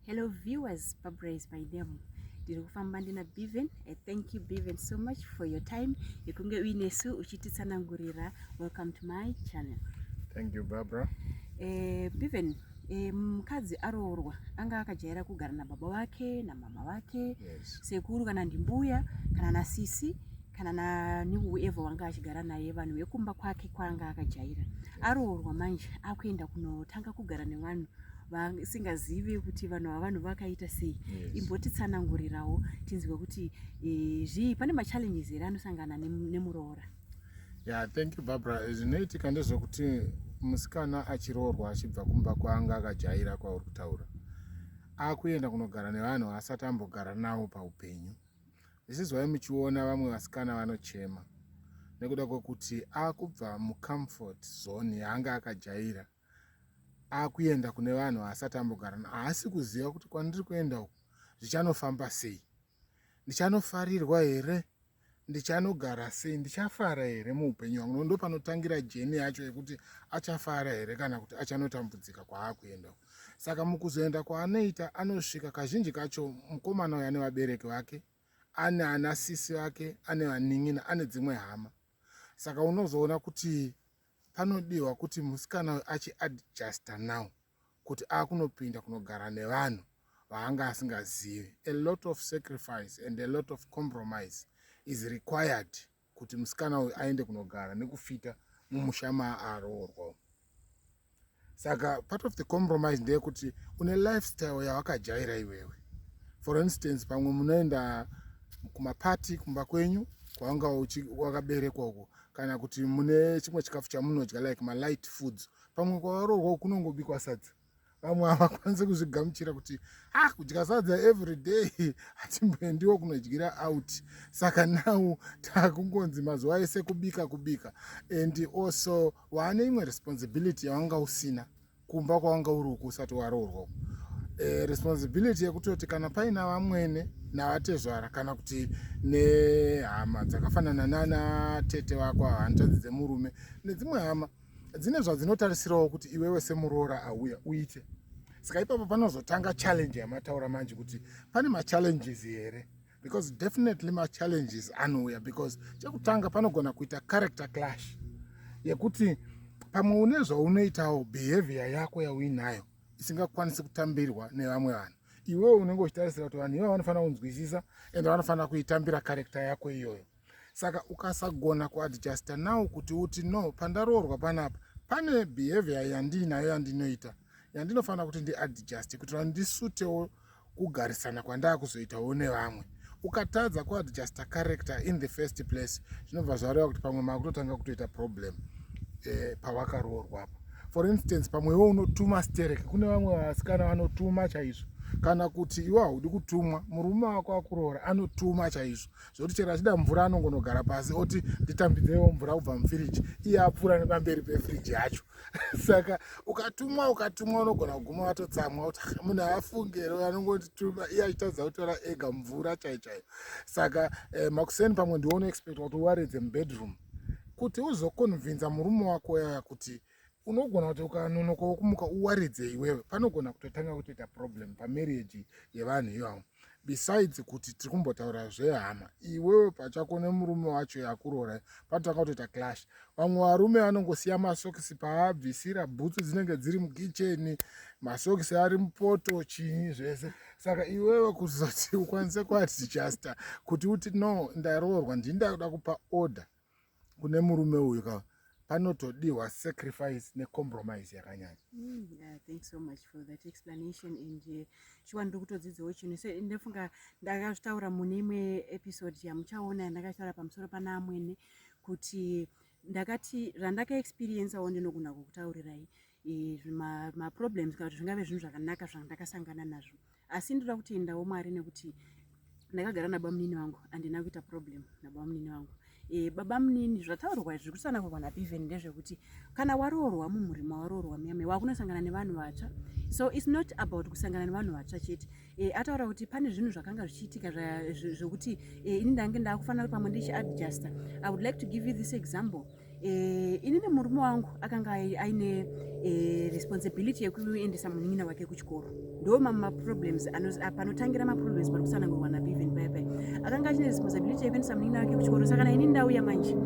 hello viewers pabraise by them ndiri kufamba ndina beven i thank you beven so much for your time yekunge uinesu uchititsanangurira welcome to my channel thank you barbara eh, beven eh, mukadzi um, aroorwa anga akajaira kugara nababa vake namama vake yes. sekuru kana ndimbuya kana nasisi kana nani whoever wanga achigara naye vanhu vekumba kwake kwanga akajaira aroorwa manje akuenda kunotanga kugara nevanhu vasingazivi kuti vanhu vavanhu vakaita sei yes. imbotitsanangurirawo tinzwe kuti e, zvii pane machallenges here anosangana nemuroora yeah, thank you barbara eh, zvinoitika ndezvekuti musikana achiroorwa achibva kumba kwanga akajaira kwauri kutaura akuenda kunogara nevanhu asati ambogara navo paupenyu zvichizwai muchiona vamwe vasikana vanochema nekuda kwekuti akubva mucomfort zone yaanga akajaira akuenda kune vanhu vaasati ambogarana haasi kuziva kuti kwandiri kuenda uku zvichanofamba sei ndichanofarirwa here ndichanogara sei ndichafara here muupenyu wangu nondo panotangira jeni yacho yekuti achafara here kana kuti achanotambudzika kwaakuenda uku saka mukuzoenda kwaanoita anosvika kazhinji kacho mukomana uyo ane vabereki vake ane ana sisi vake ane vanin'ina ane dzimwe hama saka unozoona kuti panodiwa kuti musikana uyo achiadjusta now kuti akunopinda kunogara nevanhu vaanga asingazivi a lot of sacrifice and a lot of compromise is required kuti musikana uyu aende kunogara nekufita mumusha maaroorwa umu saka part of the compromise ndeyekuti une lifestyle yawakajaira iwewe for instance pamwe munoenda kumapati kumba kwenyu kwawanga wakaberekwa uko kana kuti mune chimwe chikafu chamunodya like malight foods pamwe kwawaroorwa kunongobikwa sadza vamwe havakwanise kuzvigamuchira kuti ah kudya sadza every day hatimboendiwo kunodyira out saka now takungonzi mazuva ese kubika kubika and also waane imwe responsibility yawanga usina kumba kwawanga uri uku usati waroorwa uku e, responsibility yekutoti kana paina vamwene navatezvara kana kuti nehama dzakafanana nana tete vako hanzvadzi dzemurume nedzimwe hama dzine zvadzinotarisirawo kuti iwewe semuroora auya uite saka ipapo panozotanga challenge yamataura manje kuti pane machallenges here because definitely machallenges anouya because chekutanga panogona kuita character clash yekuti pamwe une zvaunoitawo behavior yako yauinayo isingakwanisi kutambirwa nevamwe vanhu iwewo unenge uchitarisira kuti vanhu iva vanofanira kunzwisisa ende vanofanira kuitambira karekta yako iyoyo saka ukasagona kuadjusta now kuti uti no pandaroorwa panapa pane behavior yandiinayo yandinoita yandinofanira kuti ndiadjuste kuti vandisutewo kugarisana kwandaa kuzoitawo nevamwe ukatadza kuadjusta character in the first place zvinobva zvareva kuti pamwe makutotanga kutoita problem eh, pawakaroorwapo for instance pamwe iwe unotuma sterek kune vamwe vasikana vanotuma chaizvo kana kuti iwe haudi kutumwa murume wako akuroora anotuma chaizvo zvekuti chero achida mvura anongonogara pasi oti nditambidzewo mvura kubva mufiriji iye apfuura nepamberi pefiriji yacho saka ukatumwa ukatumwa unogona kuguma watotsamwa kuti ah, munhu aafungero anongotituma iye achitadza kutora ega mvura chai chaiyo saka eh, makuseni pamwe ndiwo unoexpecta kuti uwaredze mubedroom kuti uzokonvinza murume wako yaya kuti unogona kuti ukanonoka wokumuka uwaridze iwewe panogona kutotanga kutoita problem pamarriage yevanhu ivavo besides kuti tiri kumbotaura zvehama iwewe pachako nemurume wacho yakuroora panotanga kutoita clash vamwe varume vanongosiya masokisi paabvisira bhutsu dzinenge dziri mukicheni masokisi ari mupoto chii zvese saka iwewe kuzoti ukwanise kuadjusta kuti uti no ndaroorwa ndini ndakuda kupa order kune murume uyu ka panotodiwa sacrifice necompromise yakanyanya mm, yeah, thank so much for that explanation and uh, shuwa ndiri kutodzidzawo chinhu so ndofunga ndakazvitaura mune imwe episode yamuchaona yandakataura pamusoro pana amwene kuti ndakati randakaexperiencewo ndinogona kukutaurirai e, maproblems ma kana kuti zvingave zvinhu zvakanaka zvandakasangana nazvo asi ndoda kutendawo mwari nekuti ndakagara nabamunini vangu handina kuita problem nabamunini vangu e, babamunini zvataurwa izvi zvikutisana kurwa napiven ndezvekuti kana waroorwa mumhuri mawaroorwa muyame wakunosangana nevanhu vatsva so its not about kusangana nevanhu vatsva chete e, ataura kuti pane zvinhu zvakanga zvichiitika zvekuti e, ini ndange ndakufanira kuti pamwe ndichiadjusta i would like to give you this example Eh, ini nemurume wangu akanga aine eh, responsibility yekuendesa munin'ina wake kuchikoro ndo mamwe maproblems ah, panotangira maproblems pari kusanangurwa nabeven paya paya akanga achine responsibility yekuendesa munin'ina wake kuchikoro saka naini ndauya manje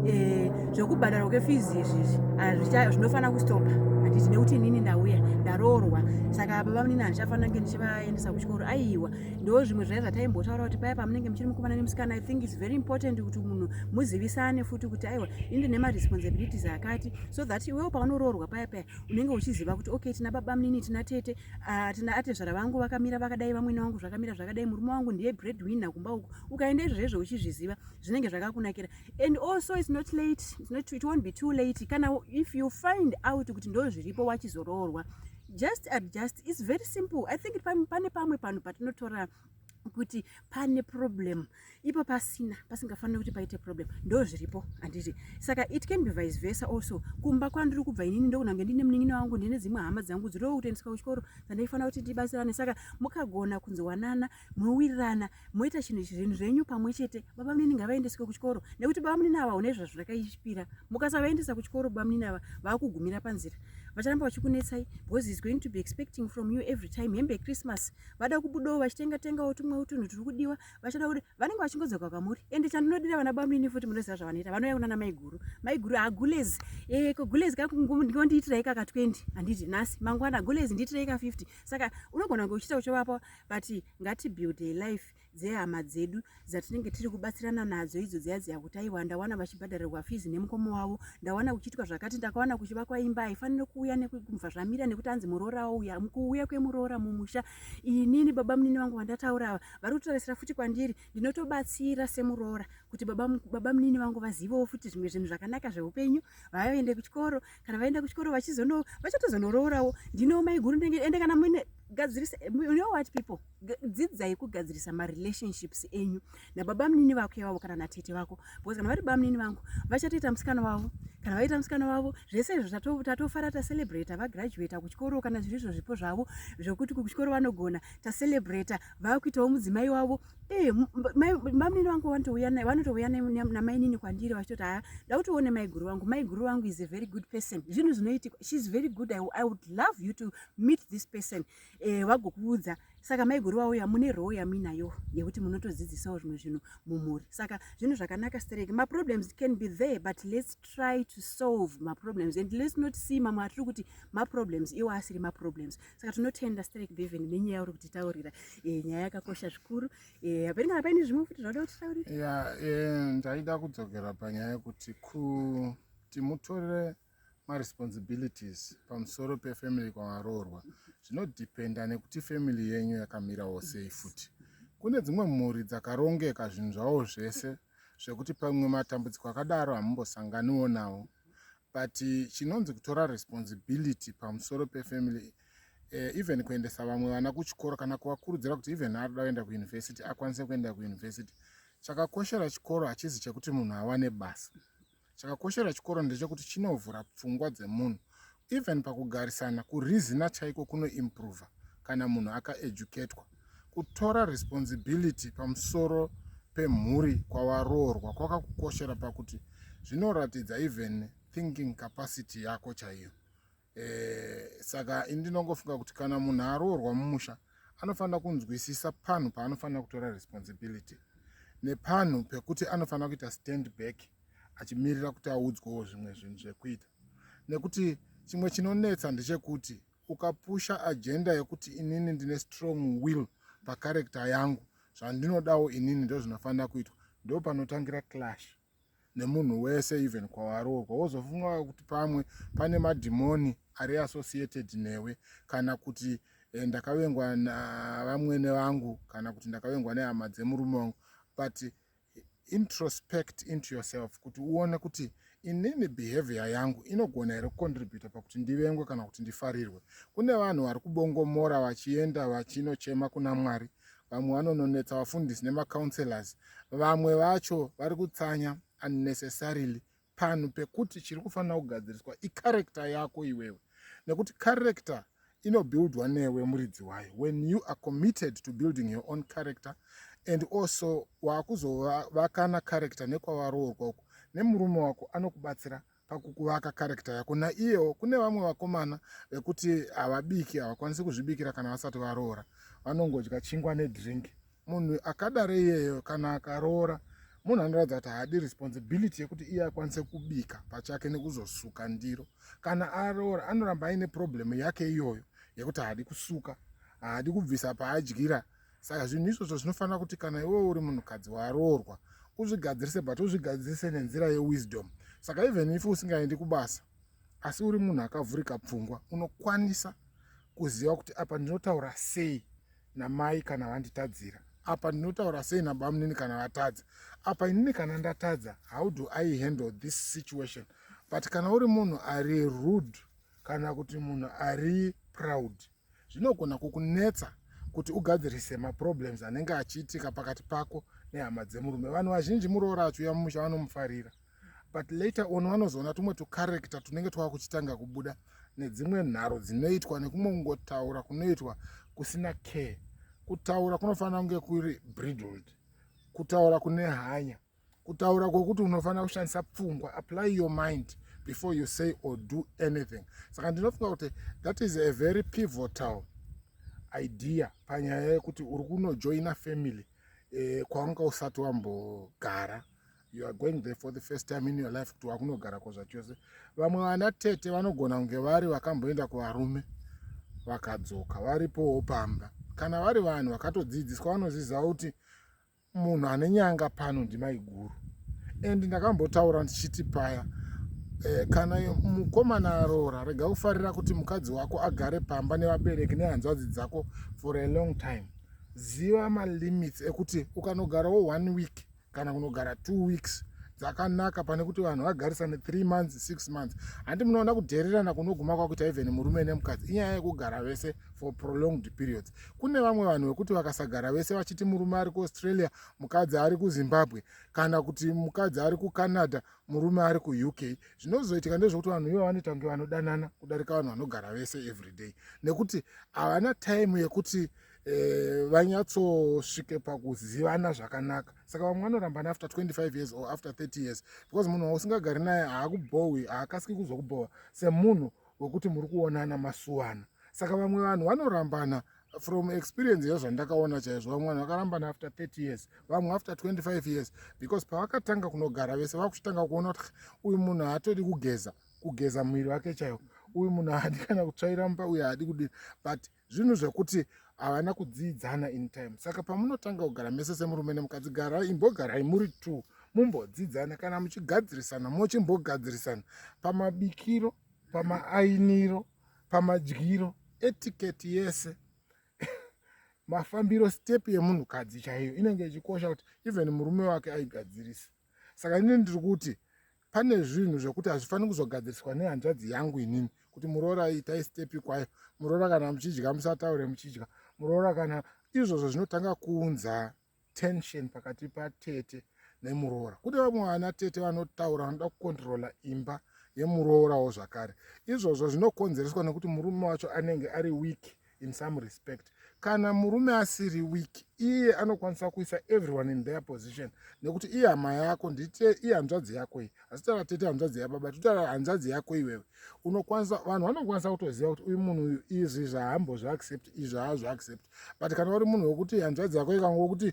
eh, zvekubhadharwa kwefizi izvizvi ah, zvinofanira kustopa handiti nekuti inini ndauya ndaroorwa saka baba munini handichafanira kunge ndichivaendesa kuchikoro aiwa ndo zvimwe zvaya zvataimbotaura kuti paya pamunenge muchiri mukomana nemusikana i think its very important kuti munhu muzivisane futi kuti aiwa ini ndine maresponsibilities akati so that iwewo paunoroorwa paya paya unenge uchiziva kuti okay tina baba munini tina tete ah, tina atezvara vangu vakamira vakadai vamwene wangu zvakamira zvakadai murume wangu ndiye bread winner kumba uku ukaenda izvezvo uchizviziva zvinenge zvakakunakira and also its not late it's not, it won't be too late kana if you find out kuti ndo zviripo wachizoroorwa just adjust is very simple i think pane pamwe panhu patinotora kuti pane problem ipo pasina pasingafaniri kuti paite problem ndo zviripo handiti saka it can be vice versa also kumba kwandiri kubva inini ndokunange ndine munin'ina wangu ndine dzimwe hama dzangu dziri kutoendeswa kuchikoro dzandaifanira kuti ndibatsirane saka mukagona kunzwanana mowirirana moita chinhu zvinhu zvenyu pamwe chete baba munini ngavaendeswe kuchikoro nekuti baba munini ava une zvazvo rakaipira mukasavaendesa kuchikoro baba munini ava vakugumira panzira vacharamba vachikunetsai because is going to be expecting from you every time hembe yechristmas vada kubudawo vachitenga tengawo tumwewo tunhu turi kudiwa vachada kuti vanenge vachingodzoka kwamuri ende chandinodira vana baba munini futi munoziva zvavanoita vanouya kunana maiguru maiguru agulez ah, e eh, ko gulez kakungondiitirai kaka 20 handiti nhasi mangwana gulez ndiitirai ka 50 saka unogona kunge uchiita uchovapa but ngatibuilde life dzehama dzedu dzatinenge tiri kubatsirana nadzo idzo dziya dziya kuti aiwa ndawana vachibhadharirwa fizi nemukoma wavo ndawana kuchiitwa zvakati ndakawana kuchivakwa imba haifanire kuuya nekubva zvamira nekuti anzi muroora wauya kuuya kwemuroora mumusha inini baba munini vangu vandataura ava vari kutoresera futi kwandiri ndinotobatsira semuroora kuti baba, baba munini vangu vazivewo futi zvimwe zvinhu zvakanaka zveupenyu vave vaende kuchikoro kana vaenda kuchikoro vachizono vachatozonororawo ndino maiguru ndenge ende kana muine gadzirisa you know what people dzidzai kugadzirisa marelationships enyu nababa munini vako ivavo kana natete vako because kana vari bamunini vangu vachatoita musikana wavo kana vaita musikana wavo zvese izvo tatofara tacelebrata vagraduata kuchikoro kana zviri izvo zvipo zvavo zvokuti kuchikoro vanogona tacelebrata vakuitawo mudzimai wavo Eh, mamunini vangu vanotouya naye vanotouya namainini kwandiri vachitoti haya ndakuti uone maiguru vangu maiguru vangu is a very good person zvinhu zvinoitika sheis very good I, i would love you to meet this person eh, vagokuudza saka maiguru vauya mune roo yamuinayo yekuti munotodzidzisawo zvimwe zvinhu mumhuri saka zvinhu zvakanaka stereki maproblems can be there but let's try to solve maproblems and let's not see mamwe atiri kuti maproblems iwo asiri maproblems saka tinotenda strek beven nenyaya uri kutitaurira eh, nyaya yakakosha zvikuru eh, hapeni kana paine zvimwe futi zvauda kutitaurira ya eh, ndaida kudzokera panyaya yekuti kuti mutore maresponsibilities pamusoro pefamily kwavaroorwa zvinodependa nekuti family yenyu yakamirawo sei futi kune dzimwe mhuri dzakarongeka zvinhu zvavo zvese zvekuti pamwe matambudziko akadaro hamumbosanganiwo nawo but chinonzi kutora responsibility pamusoro pefamily uh, even kuendesa vamwe vana kuchikoro kana kuvakurudzira kuti even arida kuenda kuuniversity akwanise kuenda kuuniversity chakakoshera chikoro hachizi chekuti munhu awane basa chakakoshera chikoro ndechekuti chinovhura pfungwa dzemunhu even pakugarisana kurizina chaiko kunoimprova kana munhu akaeducatwa Kutora responsibility pamusoro pemhuri kwawaroorwa kwakakukoshera pakuti zvinoratidza even thinking capacity yako chaiyo. Eh, saka ini ndinongofunga kuti kana munhu aroorwa mumusha anofanira kunzwisisa panhu paanofanira kutora responsibility nepanhu pekuti anofanira kuita stand back achimirira kuti audzwawo zvimwe zvinhu zvekuita nekuti chimwe chinonetsa ndechekuti ukapusha agenda yekuti inini ndine strong will pacharector yangu zvandinodawo inini ndozvinofanira kuitwa ndo panotangira clash nemunhu wese even kwawaroorwa wozofunga kuti pamwe pane madhimoni ari associated newe kana kuti eh, ndakavengwa navamwene vangu kana kuti ndakavengwa nehama dzemurume wangu but introspect into yourself kuti uone kuti inini behavior yangu inogona here kucontributa pakuti ndivengwe kana kuti ndifarirwe kune vanhu vari kubongomora vachienda vachinochema kuna mwari vamwe vanononetsa vafundisi nemacounselors vamwe vacho vari kutsanya unnecessarily panhu pekuti chiri kufanira kugadziriswa icarector yako iwewe nekuti carector inobuildwa newe muridzi wayo when you are committed to building your own character and also waakuzovakana character nekwavaroorwa uko nemurume wako anokubatsira pakukuvaka character yako naiyewo kune vamwe vakomana vekuti havabiki havakwanisi kuzvibikira kana vasati varoora vanongodya chingwa nedrink munhu akadaro iyeyo kana akaroora munhu anoratidza kuti haadi responsibility yekuti iye akwanise kubika pachake nekuzosuka ndiro kana aroora anoramba aine problem yake iyoyo yekuti haadi kusuka haadi kubvisa paadyira saka zvinhu izvozvo zvinofanira kuti kana iwe uri munhukadzi waroorwa uzvigadzirise but uzvigadzirise nenzira yewisdom saka even if usingaendi kubasa asi uri munhu akavhurika pfungwa unokwanisa kuziva kuti apa ndinotaura sei namai kana vanditadzira apa ndinotaura sei nabamunini kana vatadza apa inini kana ndatadza how do i handle this situation but kana uri munhu ari rude kana kuti munhu ari proud zvinogona kukunetsa kuti ugadzirise maproblems anenge achiitika pakati pako nehama dzemurume vanhu vazhinji muroora achiuya mumusha vanomufarira but later on vanozoona tumwe tucarector tunenge twava kuchitanga kubuda nedzimwe nharo dzinoitwa nekumwe kungotaura kunoitwa kusina care kutaura kunofanira kunge kuri bridled kutaura kune hanya kutaura kwokuti unofanira kushandisa pfungwa apply your mind before you say or do anything saka ndinofunga kuti that is a very pivotal idea panyaya yekuti uri kunojoina family eh, kwawanga usati wambogara you are going there for the first time in your life kuti wakunogara ko zvachose vamwe vana tete vanogona kunge vari vakamboenda kuvarume vakadzoka varipowo pamba kana vari vanhu vakatodzidziswa vanoziziva kuti munhu ane nyanga pano ndimaiguru and ndakambotaura ndichiti paya eh, kana mukomana aroora rega kufarira kuti mukadzi wako agare pamba nevabereki nehanzvadzi dzako for a long time ziva malimits ekuti ukanogarawo one week kana kunogara two weeks dzakanaka pane kuti vanhu vagarisane three months six months handi munoona kudhererana kunoguma kwakuita even murume nemukadzi inyaya yekugara vese for prolonged periods kune vamwe vanhu vekuti vakasagara vese vachiti murume ari kuaustralia mukadzi ari kuzimbabwe kana kuti mukadzi ari kucanada murume ari kuuk zvinozoitika ndezvekuti vanhu ivo vanoita kunge vanodanana kudarika vanhu vanogara vese everyday nekuti havana time yekuti eh, vanyatsosvike pakuzivana zvakanaka saka vamwe vanorambana after 25 years or after 30 years because munhu wausingagari naye haakubhohwi haakasiki kuzokubhohwa semunhu wekuti muri kuonana masuwana saka vamwe vanhu vanorambana from experience yezvandakaona chaizvo vamwe vanhu vakarambana after 30 years vamwe after 25 years because pavakatanga kunogara vese vakuchitanga kuona kuti uyu munhu haatodi kugeza kugeza muviri wake chaiwo uyu munhu haadi kana kutsvaira mumba uyu haadi kudii but zvinhu zvekuti havana kudziidzana in time saka pamunotanga kugara mese semurume nemukadzi garai imbogarai muri two mumbodzidzana kana muchigadzirisana mochimbogadzirisana pamabikiro pamaainiro pamadyiro etiketi yese mafambiro step yemunhukadzi chaiyo inenge ichikosha kuti even murume wake aigadzirisa saka ini ndiri kuti pane zvinhu zvekuti hazvifaniri kuzogadziriswa nehanzvadzi yangu inini kuti muroora itai stepi kwayo muroora kana muchidya musataure muchidya muroora kana izvozvo zvinotanga kuunza tension pakati patete nemuroora kune vamwe vana tete vanotaura vanoda kukontrola imba yemuroorawo zvakare izvozvo zvinokonzereswa nekuti murume wacho anenge ari wiki in some respect kana murume asiri weak iye anokwanisa kuisa everyone in their position nekuti iye hama yako ndite iye hanzvadzi yako iyi asi tara tete hanzvadzi yababa totara hanzvadzi yako iwewe unokwanisa vanhu vanokwanisa kutoziva kuti uyu munhu uyu izvi zvahambo zvaaccept izvi haa zvaaccept but kana uri munhu wekuti hanzvadzi yako ikango kuti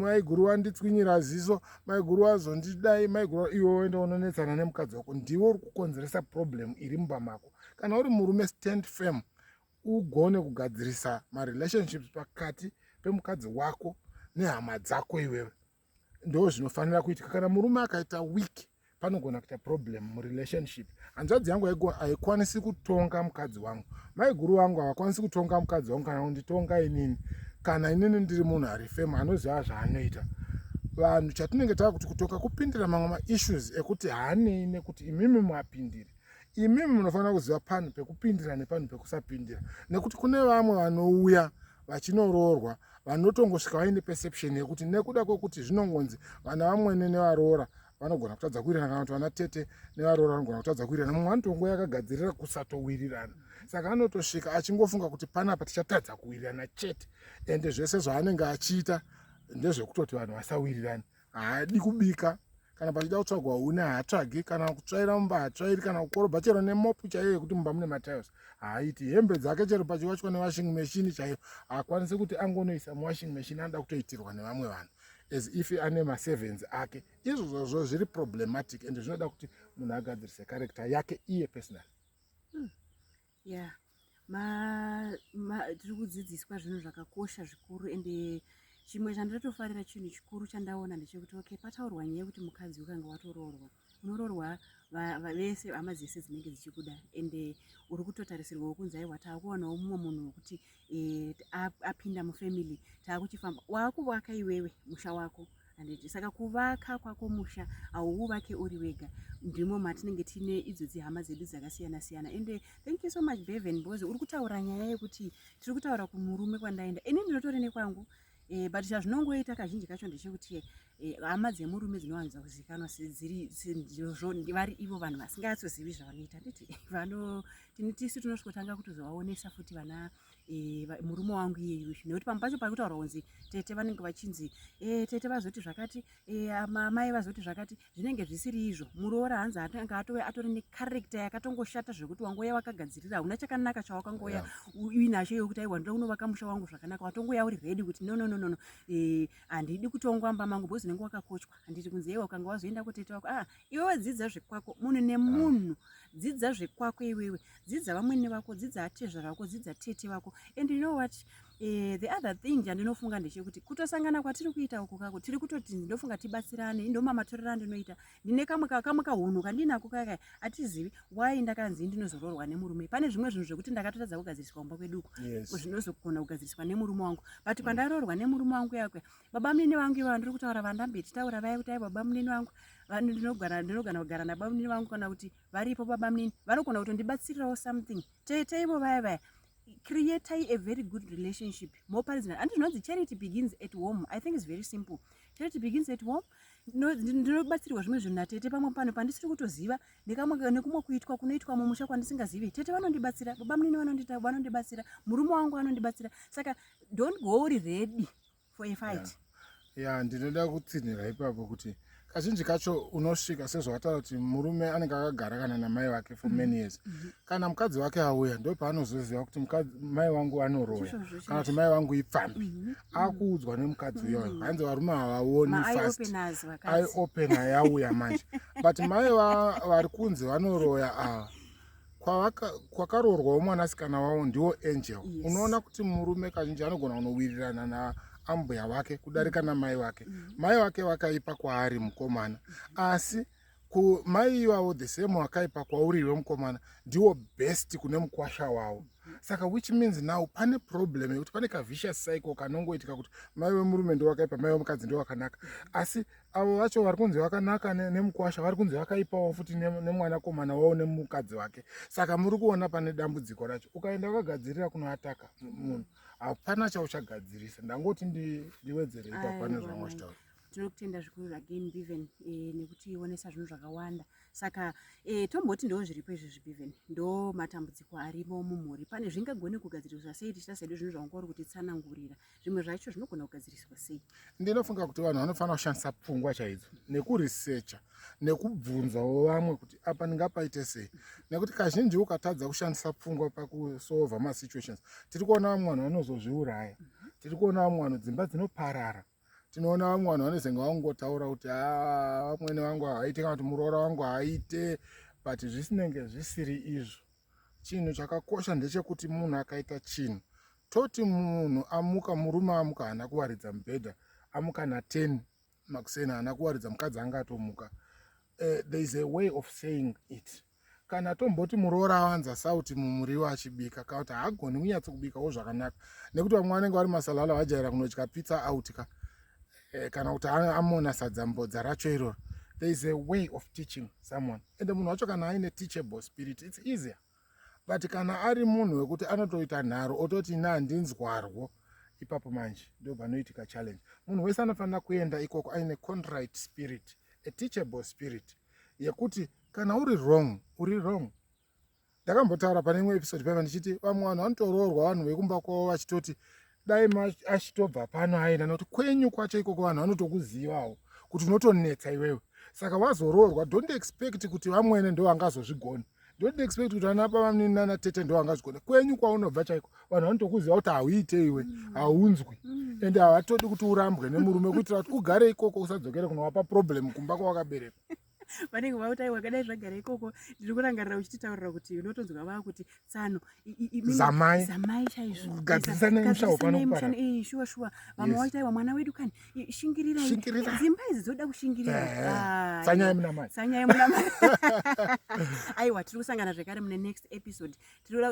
maiguru wanditswinyira ziso maiguru wazondidai maiguru iwe woenda unonetsana nemukadzi wako ndiwe uri kukonzeresa problem iri mumba mako kana uri murume stand firm ugone kugadzirisa marelationships pakati pemukadzi wako nehama dzako iwewe ndo zvinofanira kuitika kana murume akaita week panogona kuita problem murelationship hanzvadzi yangu haikwanisi kutonga mukadzi wangu maiguru vangu havakwanisi kutonga mukadzi wangu kana kunditonga inini kana inini ndiri munhu ari femu anoziva zvaanoita vanhu chatinenge tava kuti kutonga kupindira mamwe maissues ekuti haanei nekuti imimi muapindiri imi munofanira kuziva panhu pekupindira nepanhu pekusapindira nekuti kune vamwe vanouya vachinoroorwa vanotongosvika vaine perception yekuti nekuda kwekuti zvinongonzi vana vamwene nevaroora vanogona kutadza kuwirirana kana kuti vana tete nevaroora vanogona kutadza kuwirirana mumwe anotongo yakagadzirira kusatowirirana saka anotosvika achingofunga kuti panapa tichatadza kuwirirana chete ende zvese zvaanenge achiita ndezvekutoti vanhu vasawirirane haadi kubika kana pachida kutsvagwa huni haatsvagi kana kutsvaira mumba haatsvairi kana kukorobha chero nemopu chaiyo yekuti mumba mune matiles haaiti hembe dzake chero pachiwachwa newashing machine chaiyo haakwanisi kuti angonoisa muwashing machine anoda kutoitirwa nevamwe vanhu as if ane maservants ake izvozvozvo zviri problematic and zvinoda kuti munhu agadzirise character yake iye personal hmm. yeah tiri kudzidziswa zvinhu zvakakosha zvikuru ende chimwe chandatofarira chinhu chikuru chandaona ndechekuti okay pataurwa nyaya yekuti mukadzi ukange watoroorwa unoroorwa vese hama dzese dzinenge dzichikuda ende uri kutotarisirwawo kunzi aiwa takuwanawo mumwe munhu wekuti e, apinda mufamily taakuchifamba waakuvaka iwewe musha wako handiti saka kuvaka kwako musha hauuvake uri wega ndimo matinenge tine idzo dzihama dzedu dzakasiyana siyana ende thank you so much beven because uri kutaura nyaya yekuti tiri kutaura kumurume kwandaenda ini ndinotori nekwangu Eh, but chazvinongoita kazhinji kacho ndechekuti eh, hama dzemurume dzinowanza kuzikanwa vari ivo vanhu vasinganyatsozivi zvavanoita nditi tisu tinosvikotanga kutozovaonesa futi vana eh, murume wangu iyeyu nekuti pamwe pacho pakutaura kunzi tete vanenge vachinzi tete vazoti zvakati amai vazoti zvakati zvinenge zvisiri izvo muroora hanzi anga atove atori necharector yakatongoshata zvekuti wangoya wakagadzirira hauna chakanaka chawakangoya uine hasho yokuti aiwa ndoda kunovaka musha wangu zvakanaka watongoya uri ready kuti nonononono eh, handidi kutongwa mba mangu bhozi unenge wakakochwa handiti kunzi ewa ukanga wazoenda kutete wako ah iwewe dzidza zvekwako munhu nemunhu dzidza zvekwako iwewe dzidza vamwene vako dzidza atezvara vako dzidza tete vako and you know what Eh, the other thing chandinofunga ndechekuti kutosangana kwatiri kuita uku kako tiri kutoti ndinofunga tibatsirane indomamatorera ndinoita ndine kamwe kamwe kahunhu kandinako kaka atizivi why ndakanzi ndinozoroorwa nemurume pane zvimwe zvinhu zvekuti ndakatotadza kugadziriswa kumba kwedu uko yes. zvinozogona kugadziriswa nemurume wangu but mm. kwandaroorwa nemurume wangu yakwe baba munini vangu ivo vandiri kutaura vandambe tichitaura vaya kuti ai baba munini vangu ndinogara ndinogana kugara nababa munini vangu kana kuti varipo baba munini vanogona kutondibatsirirawo something tete ivo vaya vaya creatai a very good relationship moparidzana handi zvinonzi charity begins at home i think is very simple charity begins at home ndinobatsirwa zvimwe zvinhu natete pamwe pano pandisiri kutoziva nekumwe kuitwa kunoitwa mumusha kwandisingazivi tete vanondibatsira baba munini vanondibatsira murume wangu anondibatsira saka don't go uri ready for a fight yeah ya ndinoda kutsinhira ipapo kuti kazhinji kacho unosvika sezvawataura kuti murume anenge akagara kana namai vake for many years mhm. kana mukadzi wake auya ndo paanozoziva kuti mai wangu anoroya kana kuti mai wangu ipfambi mhm. Mhm. akuudzwa nemukadzi uyoyo hanzi varume havaoni fast aiopen ayauya manje but mai vari kunzi vanoroya ava kwakaroorwawo mwanasikana wavo ndiwo angel yes. unoona kuti murume kazhinji anogona kunowirirana na ambuya vake kudarika mm. namai vake mm. mai vake vakaipa kwaari mukomana asi kumai ivavo the same wakaipa kwauriwe mukomana ndiwo best kune mukwasha wavo saka which means now pane problem yekuti pane kavicious cycle kanongoitika kuti mai vemurume ndowakaipa mai vemukadzi ndowakanaka asi avo vacho vari kunzi vakanaka nemukwasha vari kunzi vakaipawo futi nemwanakomana wavo nemukadzi wake saka muri kuona pane dambudziko racho ukaenda wakagadzirira kunoataka munhu hapana chauchagadzirisa ndangoti ndiwedzere ipa pane zvamwa chitaura tinokutenda zvikuru again beven eh, nekuti ionesa zvinhu zvakawanda saka eh, tomboti ndoo zviripo izvezvi beven ndo matambudziko arimo mumhuri pane zvingagone kugadziriswa sei tichita sedu zvinhu zvavanga uri kutitsanangurira zvimwe zvacho zvinogona kugadziriswa sei ndinofunga kuti vanhu vanofanira kushandisa pfungwa chaidzo nekuresecha nekubvunzawo vamwe kuti apa ndingapaite sei nekuti kazhinji ukatadza kushandisa pfungwa pakusova masituations tiri kuona vamwe vanhu vanozozviuraya tiri kuona vamwe vanhu dzimba dzinoparara tinoona vamwe vanhu vanozenge vangotaura kuti ah, vamwene vangu haaite kana kuti muroora wangu haaite but zvisinenge zvisiri izvo chinhu chakakosha ndechekuti munhu akaita chinhu toti munhu amuka murume amuka haana kuwaridza mubhedha amuka na10 makuseni haana kuwaridza mukadzi anga atomuka uh, there is a way of saying it kana tomboti muroora awanza sauti mumuriwo achibika ka kuti haagoni kunyatso kubikawo zvakanaka nekuti vamwe vanenge vari masalala vajaira kunodya pizza out ka eh, kana kuti amona sadza mbodza racho iroro there is a way of teaching someone and munhu wacho kana aine teachable spirit its easier but kana ari munhu wekuti anotoita nharo ototi ina handinzwarwo ipapo manje ndo panoitika challenge munhu wese anofanira kuenda ikoko aine conrite spirit a teachable spirit yekuti kana uri wrong uri wrong ndakambotaura pane imwe episode paiva ndichiti vamwe vanhu vanotoroorwa vanhu vekumba kwavo vachitoti dai achitobva pano aenda nokuti kwenyu kwacho ikoko vanhu vanotokuzivawo kuti unotonetsa iwewe saka wazoroorwa don't expect kuti vamwene ndo vangazozvigona don't expect kuti ana bavamnini nana tete ndo vangazvigona kwenyu kwaunobva chaiko vanhu vanotokuziva kuti hauite iwe mm. haunzwi mm. ende havatodi kuti urambwe nemurume kuitira kuti ugare ikoko usadzokere kunowapa problem kumba kwawakaberekwa vanenge vakuti aiwa kadai zvagara ikoko ndiri kurangarira uchititaurira kuti unotonzwa vava kuti tsano zamai zamai chaizvo gadzisanai mushawo pano kupara eh shuwa shuwa vamwe vakuti aiwa mwana wedu kani shingirira shingirira dzimba idzi dzoda kushingirira eh, eh. Ah, tsanyai muna mai tsanyai muna mai aiwa tiri kusangana zvekare mune next episode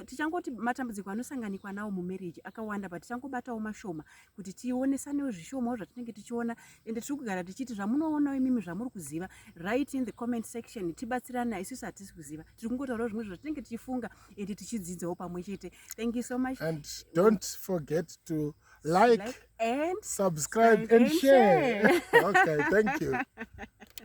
tichangoti matambudziko anosanganikwa nawo mumarriage akawanda but tichangobatawo mashoma kuti tionesanewo zvishomawo zvatinenge tichiona ende tiri kugara tichiti zvamunoonawo imimi zvamuri kuziva right in the comment section tibatsirana isusu hatisi kuziva tiri kungotaurawo zvimwe zvatinenge tichifunga ende tichidzidzawo pamwe chete thank you so much and don't forget to like, like and subscribe and, and share, share. okay thank you